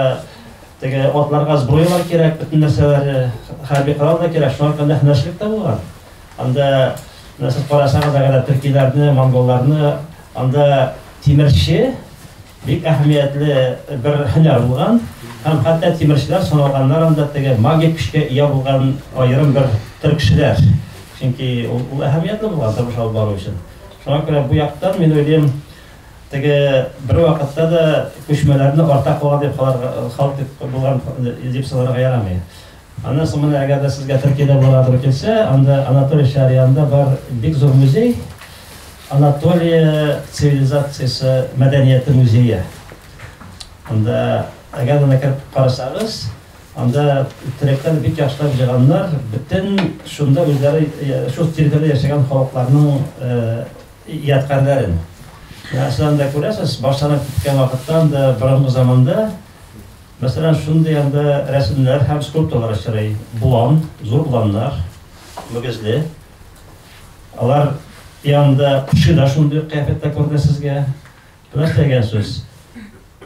теге атларга сброялар кирәк, бөтен нәрсәләре, хәрби корал да кирәк. Шуңа күрә һөнәрчелек тә булган. Анда нәрсә карасагыз, әгәр төркиләрне, монголларны, анда тимерче Бик әһәмиятле бер һөнәр булган һәм хәтта тимерчеләр саналганнар анда теге магик көчкә ия булган аерым бер төркчеләр. Чөнки ул әһәмиятле булган тормыш алып бару өчен. Шуңа күрә бу яктан, мин уйлыйм, теге бервакытта да күчмәләрне арта калган дип халык дип булган дип санарга ярамый. Аннан соң менә әгәр дә сезгә Төркиядә барадыр килсә, анда Анатолия Шарианда бар бик зур музей, Анатолия цивилизациясе мәдәнияте музее. Анда әгәр анда кереп карасагыз, анда төреккән бик яхшылап җыйганнар, бөтен шунда үзләре шул территориядә яшәгән халыкларның ядкарләрен. Нәрсәләрне дә күрәсез, башланып киткән вакыттан да борынгы заманда Мәсәлән, шундый анда рәсемнәр һәм скульптуралар очрый, болан, зур боланнар, мөгезле. Алар янында кеше дә шундый ук кыяфәттә күренә сезгә. Бу нәрсә дигән сүз?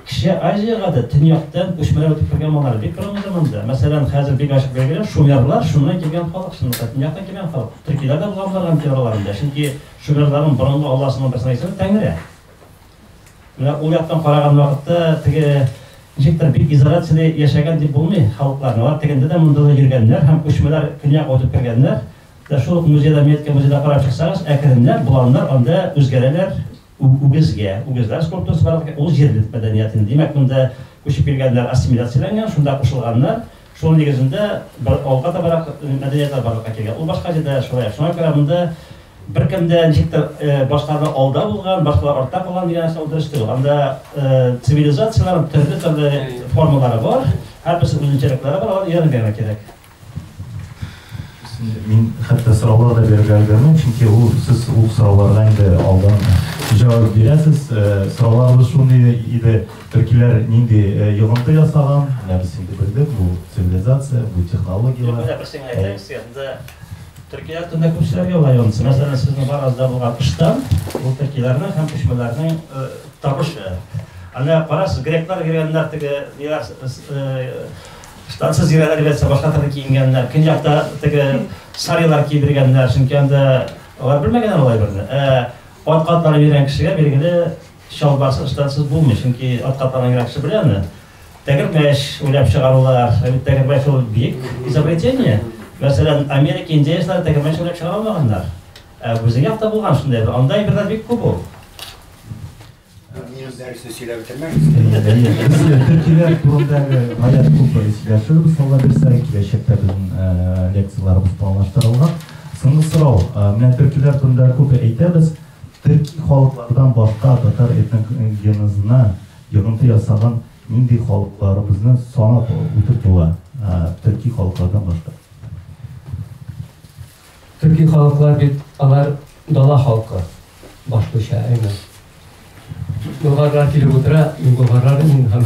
Кече Азиягә дә төньяктан күчмәләр үтеп кергән маллар бик күренде монда. Мәсәлән, хәзер бик ачык билгеле, шумерлар шуннан килгән халык, шунда төньяктан килгән халык. Төркиләр дә булган боларга мөмкин араларында, чөнки шумерларның борынгы алласының берсенә исеме Тәңре. Менә ул яктан караган вакытта теге ничектер бик изоляциядә яшәгән дип булмый халыкларны. Алар тегендә дә монда да йөргәннәр һәм күчмәләр көньяк үтеп кергәннәр. Дә шул ук музейда, Метка музейда карап чыксагыз, әкренләп боланнар анда үзгәрәләр, үгезгә, үгезләр скульптурасы бар, ул җирле мәдәниятен. Димәк, монда күчеп килгәннәр ассимиляцияләнгән, шунда кушылганнар. Шуның нигезендә бер алга табарак мәдәниятләр барлыкка килгән. Ул башка җирдә шулай. Шуңа күрә монда беркем дә ничектер башкалардан алда булган, башкалар артта калган дигән нәрсә ул дөрес түгел. Анда цивилизацияләрнең төрле-төрле формалары бар, һәрберсе үзенчәлекләре бар, аларны өйрәнергә генә кирәк. Мин хәтта сораулар да бирергә өлгермим, чөнки ул сез ул сорауларга инде алдан җавап бирәсез. Сорауларыбыз шундый иде, Төркиләр нинди йогынты ясаган, менә без инде белдек, бу цивилизация, бу технологияләр. Менә бер сиңа әйтәм, сездә төркиләр турында күп сүзләр ялгайгансыз. Мәсәлән, сезнең барыгызда булган ыштан, ул төркиләрнең һәм күчмәләрнең табышы. Аны карасыз, греклар кергәннәр теге, ниләр штансыз йөрәләр дигәнсә башка төрле киенгәннәр. Көньякта теге сарилар кидергәннәр, чөнки анда алар белмәгәннәр алай берне. Ә ат катлары йөргән кешегә билгеле Чалбарсыз, ыштансыз булмый, чөнки ат каплаган генә кеше белә аны. Тәгәрмәч уйлап чыгарулар, ә бит тәгәрмәч ул бик изобретение. Мәсәлән, Америка индеецлары тәгәрмәч уйлап чыгара алмаганнар. Ә безнең якта булган шундай, анда әйберләр бик күп ул. Минем дәресне сөйләп бетермәгез. Төркиләр турындагы гаять күп сөйләшер, мисалга бирсә, киләчәктә безнең лекцияләребез планлаштырылган. Соңгы сорау. Менә төркиләр турында күп әйтәбез. Төрки халыклардан башка татар этник генозына йогынты ясаган нинди халыкларыбызны санап үтеп була, төрки халыклардан башка? Төрки халыклар бит алар дала халкы, башлыча, әйме? Болгарлар килеп утыра, мин болгарлар мин һәм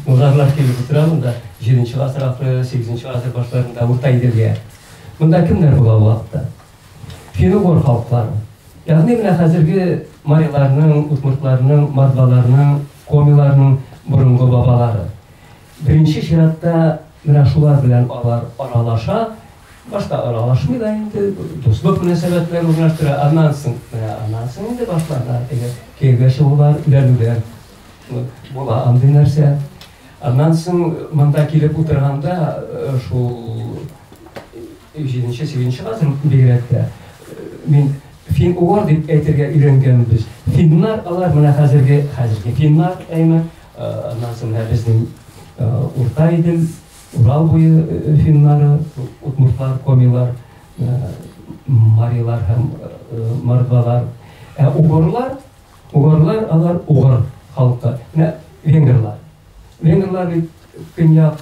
болгарлар килеп утыра монда, 7 нче гасыр ахыры, 8 нче гасыр башларында Урта Иделгә. Монда кемнәр була вакытта? Финугор халыклары, ягъни менә хәзерге мариларның, удмуртларның, мордваларның, комиларның борынгы бабалары. Беренче чиратта менә шулар белән алар аралаша, башка аралашмый да инде, дуслык мөнәсәбәтләр урнаштыра, аннан соң, менә аннан соң инде башлана теге кияүгә чыгулар, өйләнүләр. Була андый нәрсә. Аннан соң монда килеп утырганда шул Җиденче, сигезенче гасыр бигрәк тә мин фин-угор дип әйтергә өйрәнгәнбез. Финнар алар менә хәзерге хәзерге финнар әйме. Аннан соң менә безнең Урта Идел, Урал буе финнары, удмуртлар, комилар, марилар һәм мордвалар. Ә угорлар, угорлар алар угор халкы. Менә венгрлар. Венгрлар бит Көньяк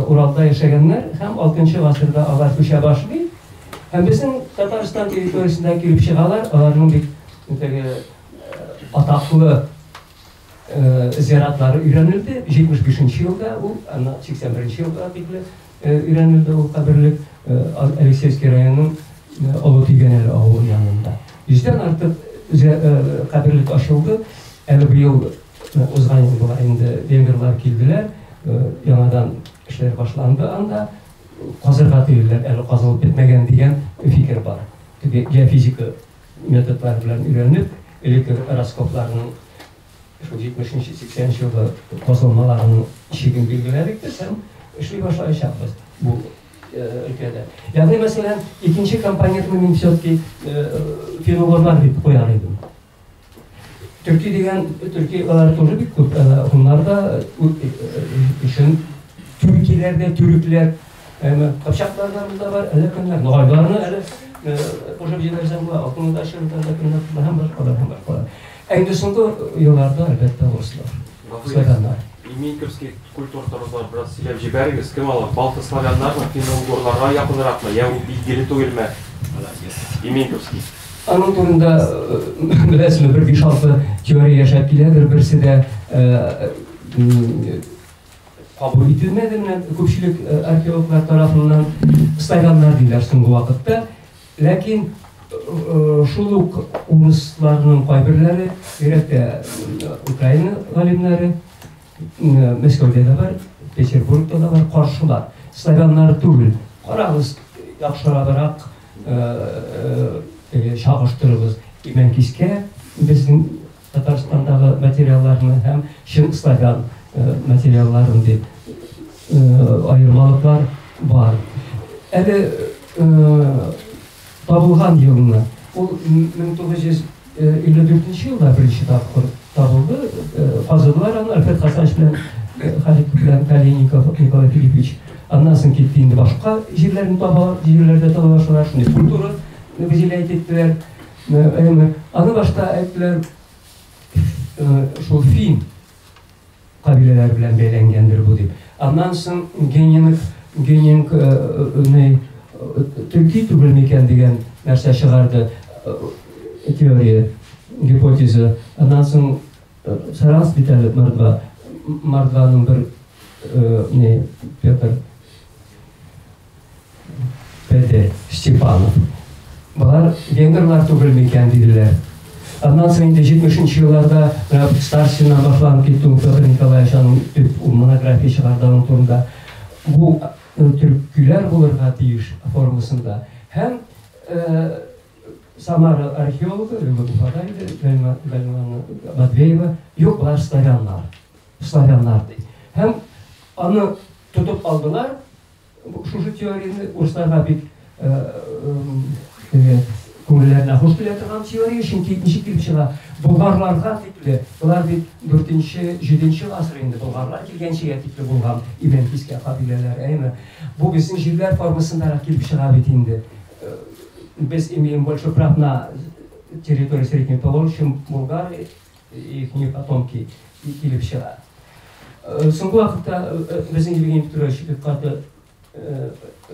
Уралда яшәгәннәр һәм 6 гасырда алар күчә башлый. Һәм безнең Татарстан территориясендә килеп чыгалар, аларның бит теге атаклы зиратлары өйрәнелде. 75 елда ул, аны 81 елга тикле өйрәнелде ул каберлек Алексеевский районының Олы Тигәнәле авылы янында. Йөздән артык каберлек ачылды. Әле быел Узган ел болай инде венгрлар килделәр, яңадан эшләр башланды анда. Казырга тиелделәр, әле казылып бетмәгән дигән фикер бар. Теге геофизика методлары белән өйрәнеп, элекке раскопларның шул 70-80 елгы казылмаларның чиген билгеләдек без һәм эшли башлаячакбыз бу өлкәдә. Ягъни, мәсәлән, икенче компонентны мин все-таки фероглар дип куяр идем. Төрки дигән, төрки алар тоже бик күп, хуннар да өчен түркиләр дә, төрекләр, кыпчаклар да монда бар, әле кемнәр, ногайларны әле кушып җибәрсәң, бу алтында чырында да кемнәр, һәм башкалар, һәм башкалар. Ә инде соңгы елларда, әлбәттә, урыслар. Славяннар. Имейковский культур торызлар бераз сөйләп җибәрегез, кем алар? Балты славяннармы, финно-угорларга якынракмы, я ул билгеле түгелме? Имейковский. Аның турында беләсезме, бер биш алты теория яшәп киләдер, берсе дә кабул ителмәде менә күпчелек археологлар тарафыннан славяннар диләр соңгы вакытта. Ләкин шул ук урысларның кайберләре, бигрәк тә Украина галимнәре, Мәскәүдә дә бар, Петербургта да бар, каршылар. Славяннар түгел. Карагыз, яхшырабрак чагыштырыгыз. Имәнкискә безнең Татарстандагы материалларны һәм чын славян материалларын дип аермалыклар бар. Әле табылган елны, ул 1954 нче елда беренче тапкыр табылды, казыдылар аны Альфред Хасанович белән Халик белән Калиников Николай Филиппович. Аннан соң китте инде башка җирләрне таба, җирләрдә таба башладылар, шундый культура бизиләйт иттеләр. Әмма аны башта әйттеләр, шул фин кабиләләре белән бәйләнгәндер бу дип. Аннан соң генинг, генинг не төрки түгел микән дигән нәрсә чыгарды теория, гипотеза. Аннан соң Сарас бит әле мордва, мордваның бер не Петр. Белде Степанов. Болар венгрлар түгел микән, диделәр. Аннан соң инде 70-нче елларда Старшина башланып китте ул Петр Николаевич аның төп монография чыгарды аның турында. Бу төркиләр булырга тиеш формасында. Һәм Самара археологы, Любовь Уфада иде, Гальмана Матвеева, юк, болар славяннар. Славяннар ди. Һәм аны тотып алдылар, Шушы теорияне урысларга бик теге күңелләренә хуш килә торган теория, чөнки ничек килеп чыга, болгарларга тикле, болар бит дүртенче, җиденче гасыр инде, болгарлар килгәнчегә тикле булган имән кискә кабиләләр, әйеме? Бу безнең җирләр формасындарак килеп чыга бит инде. Без имеем больше прав на территорию Средней Поволжья, чем Булгария. Ефимов Атомки килеп чыга. Соңгы вакытта безнең Евгений Петрович бик каты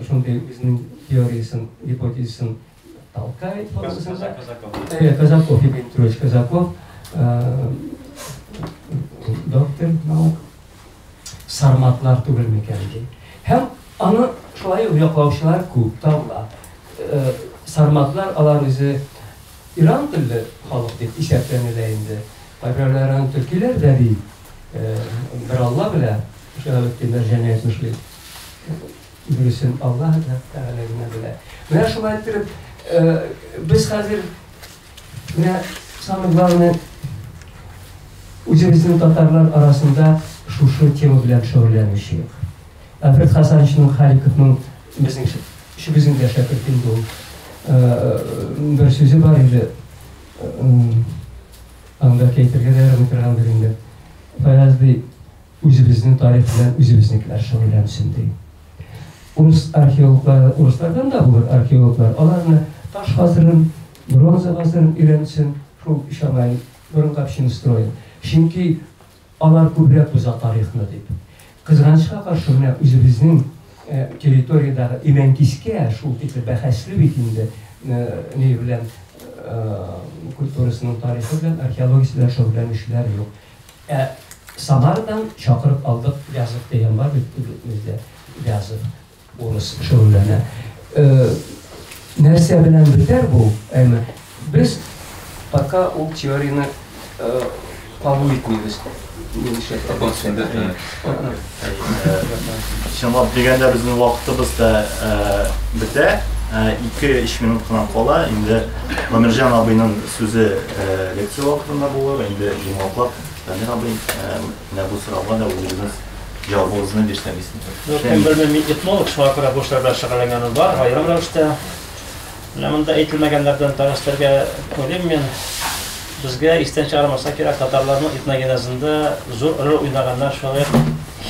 шундый үзенең теориясен, гипотезасын Алтай формасында. Казаков, Евгений Петрович Казаков, доктор наук, сарматлар түгел микән ди. Һәм аны шулай ук яклаучылар күп, табыла. Сарматлар алар үзе Иран телле халык дип исәпләнелә инде. Кайберәүләр аны төркиләр дә ди. Бер Алла белә, Шиһабетдин Мәрҗани әйтмешли. Дөресен Алла Тәгалә генә белә. Менә шулай иттереп, без хәзер менә самый главный үзебезнең татарлар арасында шушы тема белән шөгыльләнүче юк. Альфред Хасановичның Халиковның Безнең өчебезнең дә шәкерт инде ул. Бер сүзе бар иде. Аны бәлки әйтергә дә ярамый торгандыр инде. Фаяз ди, үзебезнең тарих белән үзебезнекеләр шөгыльләнсен ди. Урыс археологлары, урыслардан да булыр археологлар, аларны таш гасырын, бронза гасырын өйрәнсен, шул Шамай, борынгы общинострой. Чөнки Алар күбрәк уза тарихны дип. Кызганычка каршы, менә үзебезнең территориядәге Имәнкискә шул тикле бәхәсле бит инде ни белән культурасының тарихы белән, археологиясе белән шөгыльләнүчеләр юк. Ә Самарадан чакырып алдык, Вязов дигән бар бит бездә, Вязов. Урыс шөгыльләнә. Нәрсә белән бетәр бу? Әмма без пока ул теорияне кабул итмибез. Чынлап дигәндә безнең вакытыбыз да бетә. 2-3 минут кына кала. Инде Гомерҗан абыйның сүзе лекция вакытында булыр. Инде җомгаклап Данир абый менә бу сорауга да үзегез җавабыгызны бирсәгез иде. Ну, кем белми, мин этнолог, шуңа күрә бу эшләр белән шөгыльләнгәнем бар, аерым рәвештә. Менә монда әйтелмәгәннәрдән бераз телгә уйлыйм мин. Безгә истән чыгармаска кирәк, татарларның этногенезында зур роль уйнаганнар шулай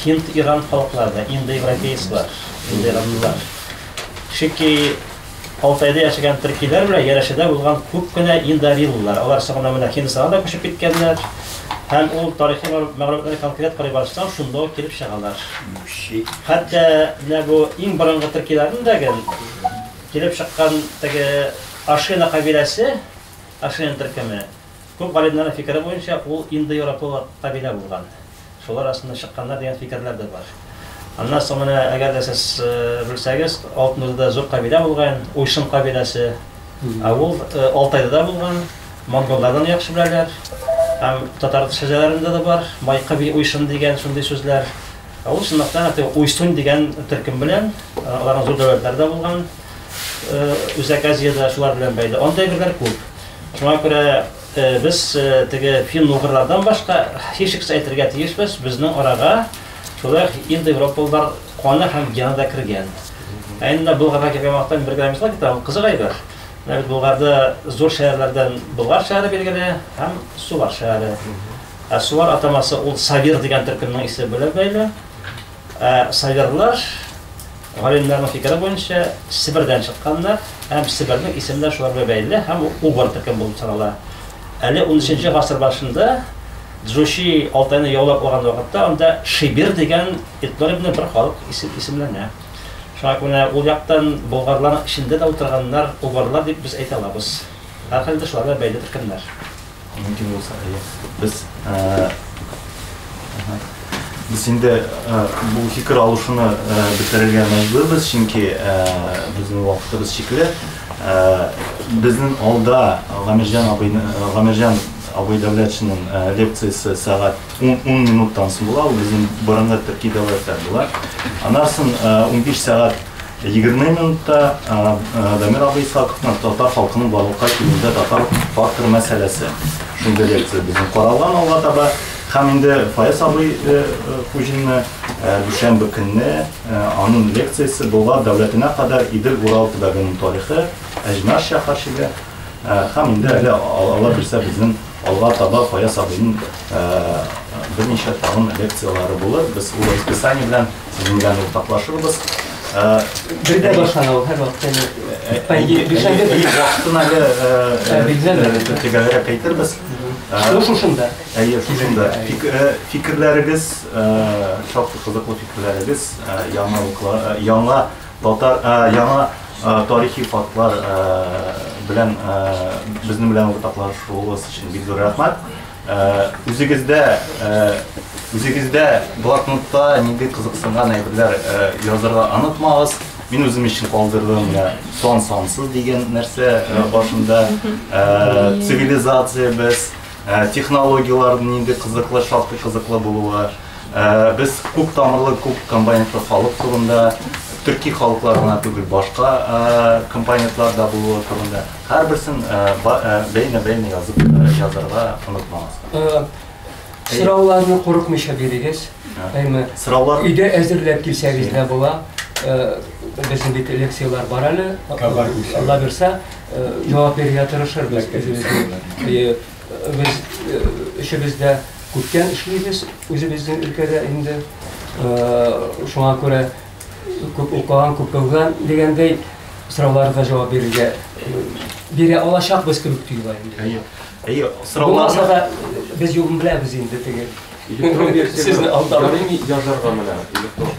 һинд-иран халыклары да, индоевропейцлар, индоиранлылар. Чөнки Алтайда яшәгән төркиләр белән Ярәшәдә булган күп кенә ил дариллылар. Алар соңыннан менә Һиндстана да күчеп киткәннәр. Һәм ул тарихи мәгълүматларны конкрет карый барсаң, шунда ук килеп чыгалар. Хәтта менә бу иң борынгы төркиләрнең дә ген килеп чыккан теге Ашина кабиләсе, Ашина төркеме, Күп галимнәрнең фикере буенча, ул индоевропалы кабилә булган. Шулар астыннан чыкканнар дигән фикерләр дә бар. Аннан соң менә, әгәр дә сез белсәгез, Алтын Урдада зур кабилә булган, Уйшын кабиләсе. Ә ул Алтайда да булган, монголлар да аны яхшы беләләр. Һәм татар шәҗәрәләрендә дә бар, Майкы би Уйшын дигән шундый сүзләр. Ә ул чынлыкта Уйсунь дигән төркем белән, аларның зур дәүләтләре дә булган. Үзәк Азиядә шулар белән бәйле. Анда әйберләр күп. Шуңа күрә без теге фин-угырлардан башка һичшиксез әйтергә тиешбез, безнең арага шулай индоевропалылар каны һәм гены да кергән. Ә инде Болгарга килгән вакытта бер грамм ислам китабы кызык әйбер. Менә бит Болгарда зур шәһәрләрдән Болгар шәһәре билгеле һәм Сувар шәһәре. Ә Сувар атамасы ул Савир дигән төркемнең исеме белән бәйле. Ә сабирлар, галимнәрнең фикере буенча, Себердән чыкканнар һәм Себернең исеме дә шулар белән бәйле һәм ул Убыр төркеме булып санала. Әле унөченче гасыр башында Джучи Алтайны яулап алган вакытта анда Шибир дигән этнонимлы бер халык исем исемләнә. Шуңа күрә ул яктан болгарларның эчендә дә утырганнар убырлар дип без әйтә алабыз. Һәрхәлдә, шулар белән бәйле төркемнәр. Мөмкин булса, әйе. Без, без инде бу фикер алышуны бетерергә мәҗбүрбез, чөнки безнең вакытыбыз чикле. Безнең алда Гамирҗан абыйны, Гамирҗан абый Дәүләтшинның лекциясе сәгать 10 минуттан соң була, ул безнең борынгы төрки дәүләттә була. Аннан соң 15 сәгать Егерме минутта Дамир абый Исхаковның татар халкының барлыкка килүендә татар факторы мәсьәләсе шундый лекция безнең каралган алга таба. Һәм инде Фаяз абый Хуҗинны дүшәмбе көнне аның лекциясе Болгар дәүләтенә кадәр Идел-Урал төбәгенең тарихы, Әҗмәш шәһәрчеге һәм инде әле Алла бирсә безнең алга таба Фаяз абыйның берничә тагын лекцияләре булыр. Без ул расписание белән Сезнең белән уртаклашырбыз. Бергә башлана ул һәрвакыт. Бишәмбе вакытын әле төгәлрәк әйтербез. Шул шушында. Әйе, шушында. Фикерләрегез, шактый кызыклы фикерләрегез, яңа яңа татар яңа тарихи фактлар белән безнең белән уртаклашуыгыз өчен бик зур рәхмәт. Үзегездә, үзегездә блокнотта нинди кызыксынган әйберләр язырга онытмагыз. Мин үзем өчен калдырдым сон сансыз дигән нәрсә башында цивилизациябез, технологияләр нинди кызыклы, шактый кызыклы булуы. Без күп тамырлы, күп компонентлы халык турында, төрки халыклар гына түгел, башка компонентлар да булуы турында. Һәрберсен бәйнә-бәйнә язып язарга онытмагыз. Сорауларны курыкмыйча бирегез. Сораулар өйдә әзерләп килсәгез дә була. Безнең бит лекцияләр бар әле. Алла бирсә, җавап бирергә тырышырбыз. Без өчебез дә күптән эшлибез үзебезнең өлкәдә инде. Шуңа күрә күп укыган, күп белгән дигәндәй сорауларга җавап бирергә бирә алачакбыз кебек тоела инде. Әйе. Әйе, сорауларга да без юлын беләбез инде теге. Электрон версияне ярыймы язарга менә электрон.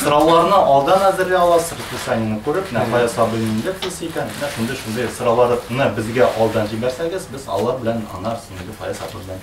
Сорауларны алдан әзерли аласыз, расписаниене күреп, менә кая сабыйның лекциясе икән, менә шундый шундый сорауларны безгә алдан җибәрсәгез, без алар белән анар синең кая сабый белән